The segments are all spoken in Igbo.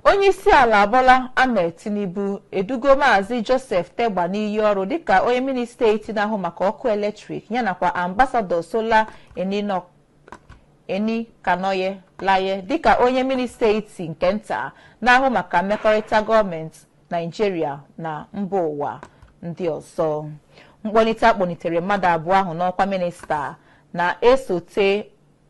Onyeisiala Bola Ahmed Tinubu edugo Maazị Joseph Tegbe n'iyi ọrụ dịka onye minista etiti na-ahụ maka ọkụ eletrik ya nakwa ambasadọ Sola Eninọ Enikanolaye dịka onye minista etiti nke nta na-ahụ maka mmekọrịta gọọmenti Naijiria na mba ụwa ndị ọzọ. Mkpọlite a kpọlitere mmadụ abụọ ahụ n'ọkwa minista na-esote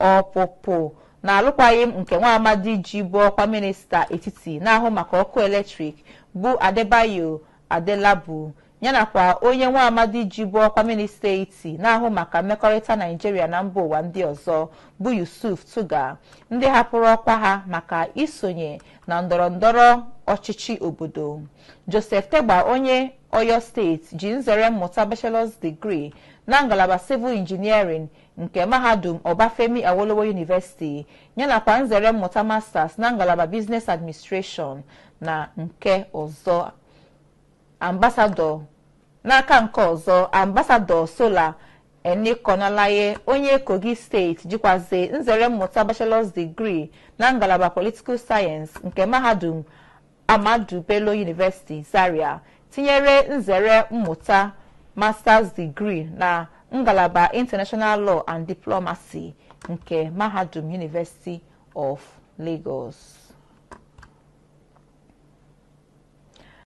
Ọpụpụ na alụkwaghịm nke nwaamadi jibu ọkwa minista etiti na-ahụ maka ọkụ eletrik bụ Adebayo Adelabu yanakwa onye nwaamadi jibu ọkwa minista etiti na-ahụ maka mmekọrịta Naijiria na mba ụwa ndị ọzọ bụ Yusuf Tuggar ndị hapụrụ ọkwa ha maka isonye na ndọrọndọrọ ọchịchị obodo. Joseph Tegbe onye Oyo steeti ji nzere mmụta bachelor's degree na ngalaba civil engineering nke mahadum Obafemi Awolowo University yanakwa nzere mmụta Masters na ngalaba Business Administration na nke ọzọ. Ambasadọ N'aka nke ọzọ, Ambasadọ Sola Enikanolaye onye Kogi steeti jikwazi nzere mmụta Bachelor's Degree na ngalaba Political Science nke mahadum Ahmadu Bello University Zaria tinyere nzere mmụta Masters Degree na ngalaba International Law and Diplomacy nke Mahadum University of Lagos.